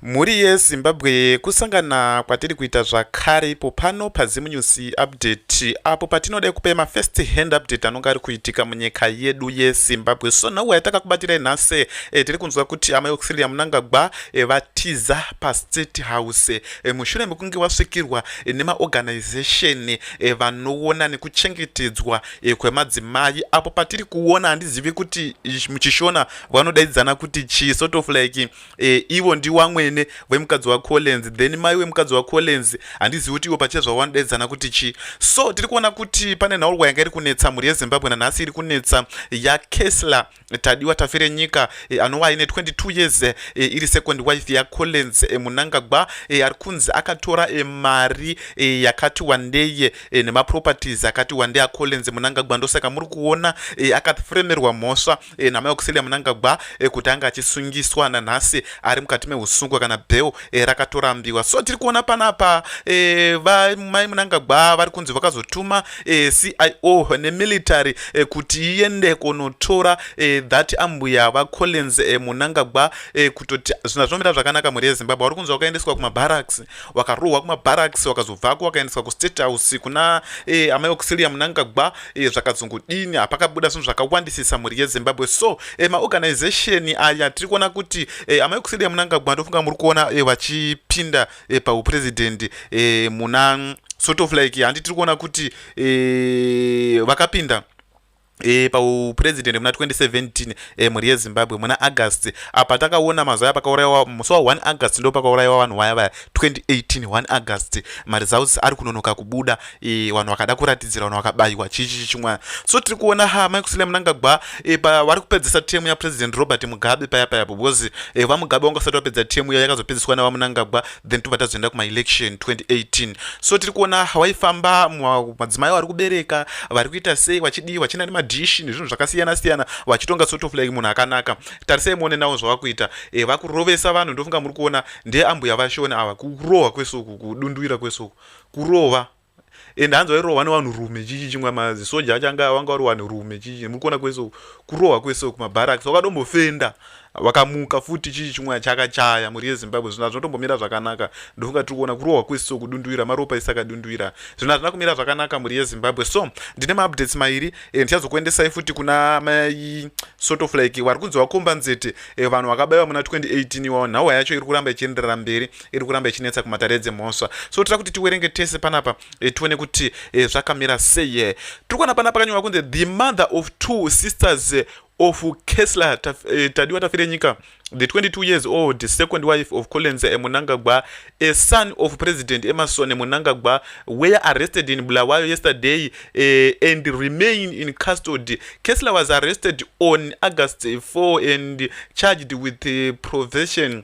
Mhuri ye Zimbabwe kusangana kwatiri kuita zvakare ipo pano paZim News Update apo patinoda kupai ma first hand update anonga ari kuitika munyika yedu ye Zimbabwe. So nhauwa yatakakubatirai nhasi e, tiri kunzwa kuti amai Auxilia Munangagwa e, eh, vatiza pa State House e, mushure mekunge vasvikirwa e, nema organization e, vanoona nekuchengetedzwa e, kwemadzimai apo patiri kuona handizivi kuti muchishona vanodaidzana kuti chi sort of like e, ivo ndiwamwene vemukadzi wacollins then mai wemukadzi wacollins handizivi kuti ivo pachia zvawanodaidzana kuti chii so tiri kuona kuti pane nhaurwa yanga iri kunetsa mhuri yezimbabwe nanhasi iri kunetsa yakesla tadiwa tafire nyika e, anova aine 22 years e, iri second wife yacollins e, munangagwa e, ari kunzi akatora e, mari e, yakati wandei e, nemaproperties akati wandei acollins munangagwa ndosaka muri kuona e, akafremerwa mhosva e, namai Auxillia Munangagwa e, kuti anga achisungiswa nanhasi ari mukati mehusungwa kana bheo e, rakatorambiwa so tiri kuona panapa e, vamai Munangagwa vari kunzi vakazotuma e, CIO nemilitary e, kuti iende konotora e, that ambuya vaCollins e, Munangagwa e, kutoti zvinhu zvinomira zvakanaka mhuri yeZimbabwe vari kunzi vakaendeswa kumabarracks vakarohwa kumabarracks vakazobvako vakaendeswa kustate house kuna e, amai Auxillia Munangagwa Iye zvakazongodini hapakabuda zvinhu zvakawandisisa mhuri yezimbabwe so e, maorganization aya tiri kuona kuti e, amai kusidi yamunangagwa ndofunga muri kuona e, vachipinda e, paupurezidendi e, muna sort of like handi tiri kuona kuti e, vakapinda E, paupurezidendi muna 2017 e, mhuri yezimbabwe muna august apa takaona mazuva aya pakauraiwa musi wa 1 august ndo pakauraiwa vanhu waya vaya 2018 1 august maresults ari kunonoka kubuda e, vanhu vakada kuratidzira vanhu vakabayiwa chichi chichimwana so tiri kuona ha mai kusile munangagwa e, eh, pavari kupedzisa temu yapresident robert mugabe paya paya po because e, eh, vamugabe vanga usati vapedza temu iya yakazopedziswa navamunangagwa then tobva tazoenda kumaelection 2018 so tiri kuona waifamba madzimai vari kubereka vari kuita sei vachidii vachina nemadishi nezvinhu zvakasiyana siyana vachitonga sort of like munhu akanaka tarisai muone nawo zvavakuita e, vakurovesa vanhu ndofunga muri kuona ndeambuya vashoni ava kurohwa kwesuku kudunduira kwesuku kurova and hanzi wairohwa nevanhu rume chichi chimwe mazisoja acho anga wanga wari wanhu rume chichi muri kuona kwese kurohwa kwese kumabaraks wakatombofenda wakamuka futi chichi chimwe chakachaya mhuri yezimbabwe zvinhu hazvina kutombomira zvakanaka ndofunga tiri kuona kurohwa kwese kudunduvira maropa isi akadunduvira zvinhu hazvina kumira zvakanaka mhuri yezimbabwe so ndine maupdates mairi eh, ndichazokuendesai futi kuna mai sort of like wari kunzi wakomba nzete eh, vanhu vakabaiwa muna 2018 iwawo nhau yacho iri kuramba ichienderera mberi iri kuramba ichinetsa kumatare dzemhosva so tira kuti tiwerenge tese panapa e, tione kuti e, zvakamira sei e. tiri kuona panapa kanyorwa kunzi the mother of two sisters of kesler taf, e, tadiwa tafire nyika the 22 years old the second wife of colenza emunangagwa a son of president emerson emunangagwa were arrested in bulawayo yesterday uh, and remain in custody kesler was arrested on august 4 and charged with uh, eh, provision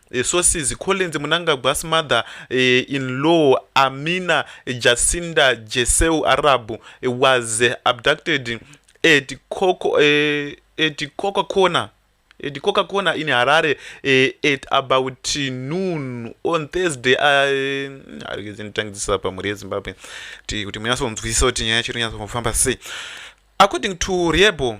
Eh, sources collins munangagwa's mother eh, in law amina jacinda jeseu arabu eh, was abducted at coco at coca corner at coca corner in harare at about noon on thursday arikizinditangidzisa pamhuri yezimbabwe kuti munyatso kunzwisisa kuti nyaya yacho rinyatsofamba sei according to riebo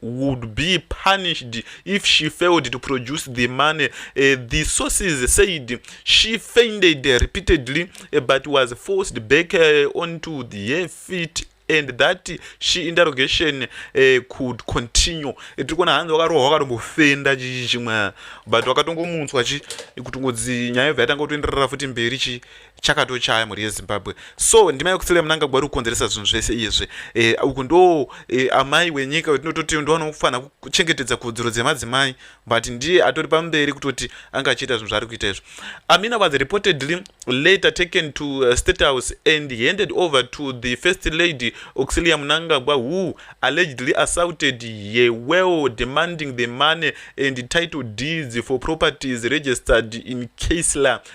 would be punished if she failed to produce the money. Uh, the sources said she fainted repeatedly uh, but was forced back uh, onto the feet and that she interrogation uh, could continue tiri kuona hanzi wakarohwa wakatombofenda chii chimwe but wakatongomunzwa chi kutongodzi nyaya yobva yatanga kutoenderera futi mberi chi chakatochaya mhuri yezimbabwe so ndima yekufila munangagwa ri kukonzeresa zvinhu zvese izvi e, uku ndo e, amai wenyika wetinototi ndovanofanira kuchengetedza kodzero dzemadzimai but ndiye atori pamberi kutoti anga achiita zvinhu zvaari kuita izvi amina was reportedly later taken to uh, state house and handed over to the first lady auxilia munangagwa who allegedly assaulted ye well demanding the money and title deeds for properties registered in casler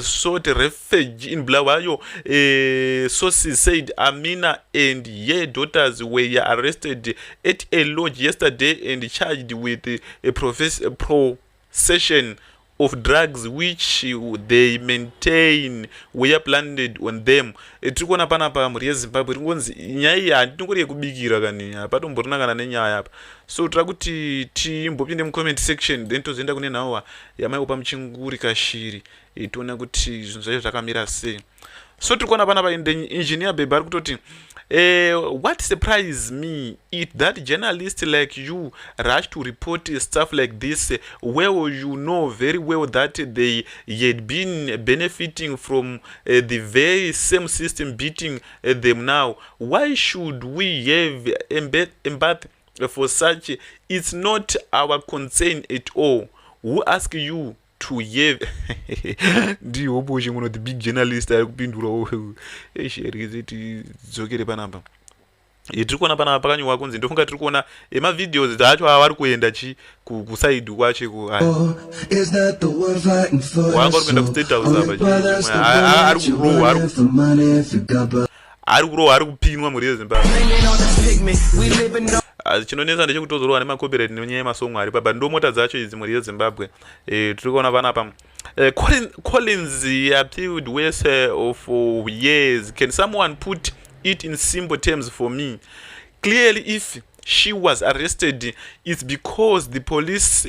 sought refuge in Bulawayo, uh, sources said Amina and her daughters were arrested at a lodge yesterday and charged with a procession of drugs which they maintain were planted on them eh, tiri kuona pana pa mhuri yezimbabwe iri kungonzi nyaya iyi handinongori yekubikira kani hapatomborina kana nenyaya apa so tira kuti timbopinde mucomment section then tozoenda kune nhawa yamai kupa muchinguri kashiri itiona kuti zvinhu zvacho zvakamira sei so tiri kuona pana paindenyi engineer bebe ari kutoti uh, what surprise me it that journalist like you rush to report stuff like this well you know very well that they had been benefiting from uh, the very same system beating uh, them now why should we have embath for such it's not our concern at all who ask you to ye ndihoboshe ngono the big journalist ari kupindurawo esherikeze tidzokere panapa tiri kuona panapa pakanyorwa kunzi ndofunga tiri kuona emavideos acho avari kuenda chi kusaidi kwacho ikuwaangori kuenda kustate house apa ari kurohwa ari kurohwa ari kupinwa mhuri yezimbabwe ah, chinonetsa ndechekutozorwa nemacopyright nenyaya yemasongo ari paba ndomota dzacho idzi mhuri yezimbabwe eh, tiri kuona vana pamwe eh, collins appealed wese eh, of years can someone put it in simple terms for me clearly if she was arrested it's because the police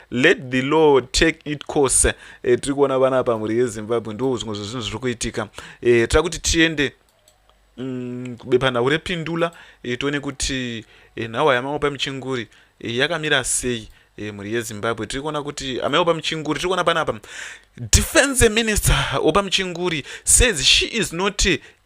let the law take it course e, eh, tiri kuona vana pamhuri yezimbabwe ndo zvimwe zvezvinhu zviri kuitika e, eh, tira kuti tiende mm, bepanhau repindula e, tione kuti e, nhawa yamamwe pamuchinguri e, yakamira sei e, mhuri yezimbabwe tiri kuona kuti amaiwo pamuchinguri tiri kuona panapa defense minister wepamuchinguri says she is not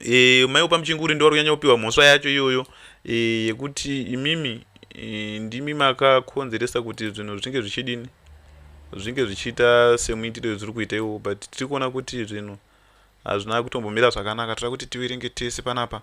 e, mai wepamuchinguri ndiwari kunyanya kupiwa mhosva yacho iyoyo e, yekuti imimi e, ndimi makakonzeresa kuti zvinhu zvichinge zvichidini zvinge zvichiita semuitiro yezviri kuita iwo but tiri kuona kuti zvinhu hazvina kutombomira zvakanaka tira kuti tiverenge tese panapa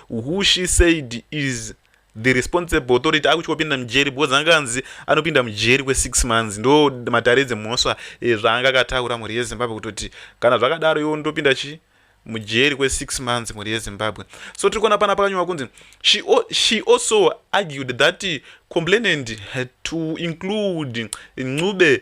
who she said is the responsible authority akutyopinda mujeri because anga anzi anopinda mujeri kwesix months ndo matare dzemhosva eh, zvaanga akataura mhuri yezimbabwe kutoti kana zvakadaro iwo ndopinda chi mujeri kwesix months mhuri yezimbabwe so tiri kuona pana pakanyorwa kunzi she, she also argued that complainant had to include ncube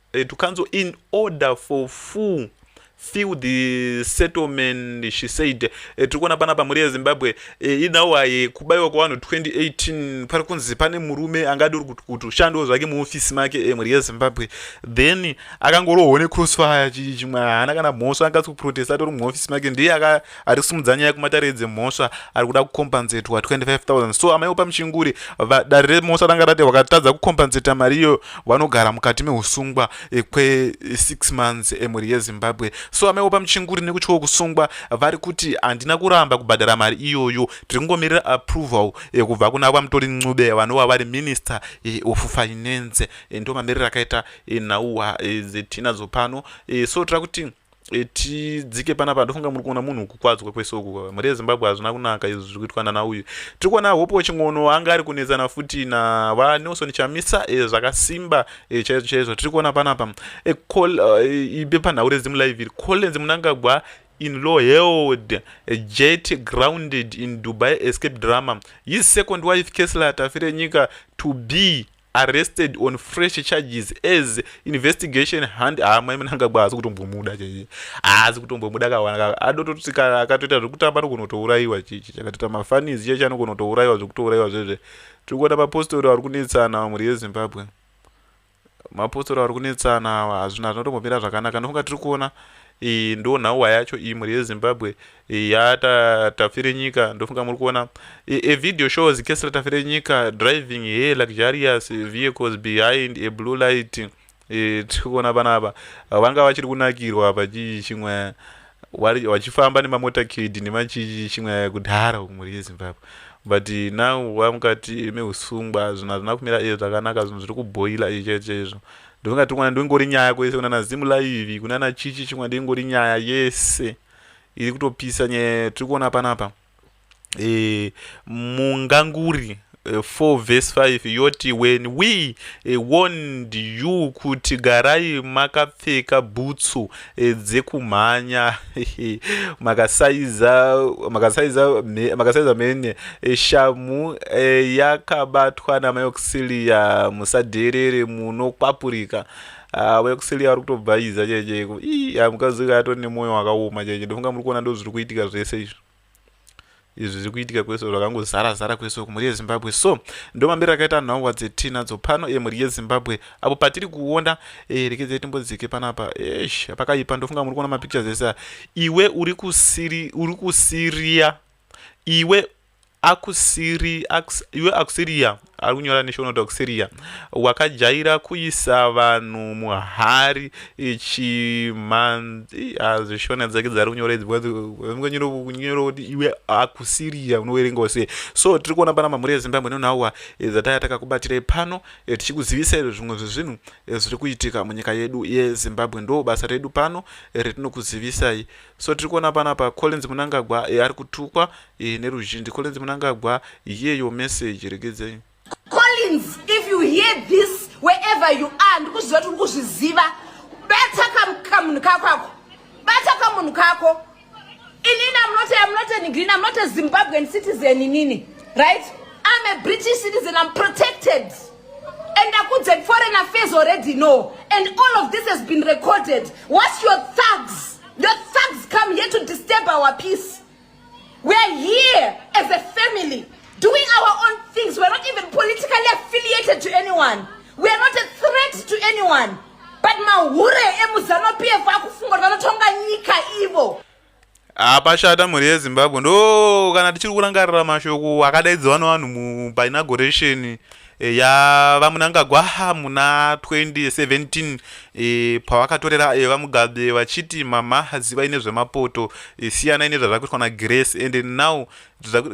eh, to council in order for full feel the settlement she said eh, tiri kuona panapa mhuri yezimbabwe eh, inawaye kubaiwa kwavanhu 2018 pari kunzi pane murume anga adori kuti kuti ushandiwo zvake muofisi make eh, mhuri yezimbabwe then akangorohwa necrossfire chimwe haana kana mhosva angatsi kuprotesta atori muofisi make ndiye ari kusimudza nyaya kumatare dzemhosva ari kuda kukompanzetwa 25000 so amai opa muchinguri dare remhosva ranga rati vakatadza kukompanseta mari iyo vanogara mukati meusungwa eh, kwe6 months emhuri yezimbabwe so amai opa muchinguri nekutyawo kusungwa vari kuti handina kuramba kubhadhara mari iyoyo tiri kungomirira approval eh, kubva kuna vamutori ncube vanova vari minister eh, of finance ndo mamiriro akaita nhau dzetiinadzo pano so tira kuti e, tidzike panapa ndofunga muri kuona munhu kukwadzwa kwese uku mhuri yezimbabwe hazvina kunaka izvi zviri kuitwa nana uyu tiri kuona hope wechingono anga ari kunetsana futi navanelson chamisa e, zvakasimba e, chaizvo chaizvo tiri kuona panapa e, col, e, ibe panhau rezimu live iri collins munangagwa in law held a jet grounded in dubai escape drama his second wife kesla tafirenyika to be arrested on fresh charges as investigation hand haa ah, mai munangagwa haazi kutombomuda chaiye haazi kutombomuda kawana adototi kana akatoita zvekutamba anogona kutourayiwa chichi chakatoita mafanizi chiye chanogona kutourayiwa zvekutourayiwa zvezve tiri kuona mapostori ari kunetsana awa mhuri yezimbabwe mapostori ari kunetsana awa hazvina zvinotombomira zvakanaka ndofunga tiri kuona iyi ndo nhauwa yacho iyi mhuri yezimbabwe yata tafire nyika ndofunga muri kuona a video shows kesi ratafire nyika driving he luxurious vehicles behind a blue light e, tiri kuona vana ava vanga vachiri kunakirwa apa chii chimwe vachifamba nemamota kid nemachii chimwe kudhara mhuri yezimbabwe but now wamukati meusungwa zvinhu hazvina kumira e zvakanaka zvinhu zviri kuboila icheche izvo ndofunga chokwadi ndoingori nyaya kwese kunana zimu live kunana chichi chokwadi ingori nyaya yese iri kutopisa nyaya tiri kuona panapa e, munganguri 4 eh, vhesi 5 yoti when we eh, warned you kuti garai makapfeka bhutsu Eh, dzekumhanya makasaiza makasaiza makasaiza mene eh, shamu eh, yakabatwa namayoxiliya musadherere munokwapurika ah, vayoxiliya vari kutobva iza chaichaiko ii ah, mukazika atori nemwoyo wakaoma chaicho ndofunga muri kuona ndozviri kuitika zvese izvo izvi zviri kuitika kwese zvakangozara zara kwese uku mhuri yezimbabwe so ndo mambiro akaita nhongwa dzetinadzo pano e mhuri yezimbabwe apo patiri kuona e, rekedzai timbodzike panapa esh pakaipa ndofunga muri kuona mapictures ese iwe uri kusiri uri kusiria iwe akusiri iwe akusiriya ari kunyora neshonodhoxeria wakajaira kuisa vanhu muhari chimhanzi hazvishona dzake dzari kunyora idzi kunyora kuti iwe akusiriya unoverengawo sei so tiri kuona pana mamhuri ezimbabwe nonauwa eh, zataya takakubatirei pano eh, tichikuzivisai zvimwe zvezvinhu eh, zviri kuitika munyika yedu yezimbabwe ndo basa redu pano retinokuzivisai so tiri kuona panapa collins munangagwa ari kutukwa e, neruzhinji collins munangagwa hear your message regedzai collins if you hear this wherever you are ndikuzviziva kuti uri kuzviziva bata kamunhu kako ako bata kamunhu kako inini amnote amnote nigreen amnote zimbabwean citizen inini right i'm a british citizen i'm protected and akudze foreign affairs already know and all of this has been recorded what's your thugs the thugs come here to disturb our peace We are here as a family doing our own things. We are not even politically affiliated to anyone. We are not a threat to anyone. But mahure emuzano PF akufunga vanotonga nyika ivo. hapashata ah, mhuri yezimbabwe ndo kana tichiri kurangarira mashoko akadaidzwa nevanhu painagoration Eh, ya vamunangagwa muna 2017 e, eh, pavakatorera e, eh, vamugabe vachiti mama zivai nezvemapoto e, siyanai nezvazvakuitwa nagrace and now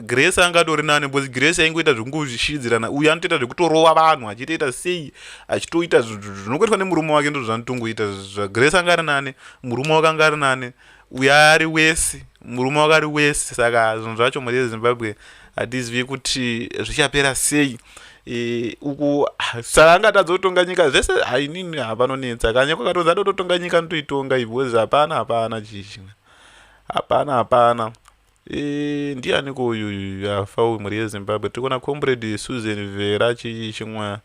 grace anga atori nani bcause grace aingoita zvekungozvishidzirana uye anotoita zvekutorova vanhu achitoita sei achitoita zvinokoitwa nemurume wake ndozvanotongoita zvagrace anga ari nani murume wake anga ari nani uyo ari wesi murume wakari wesi saka zvinhu zvacho mhuri yezimbabwe hatizivi kuti zvichapera sei e, uku saka angatadza kutonga nyika zvese hainini hapanonetsa kanye kwakatoza tototonga nyika ndoitonga ibhozi hapana hapana chichina hapana hapana e, ndianiko uyuyu afa uyu mhuri yezimbabwe tiri kuona comrade susan vera chii chimwa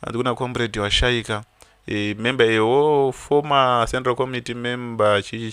andi kuna comrade washaika e, member ewo former central committee member chii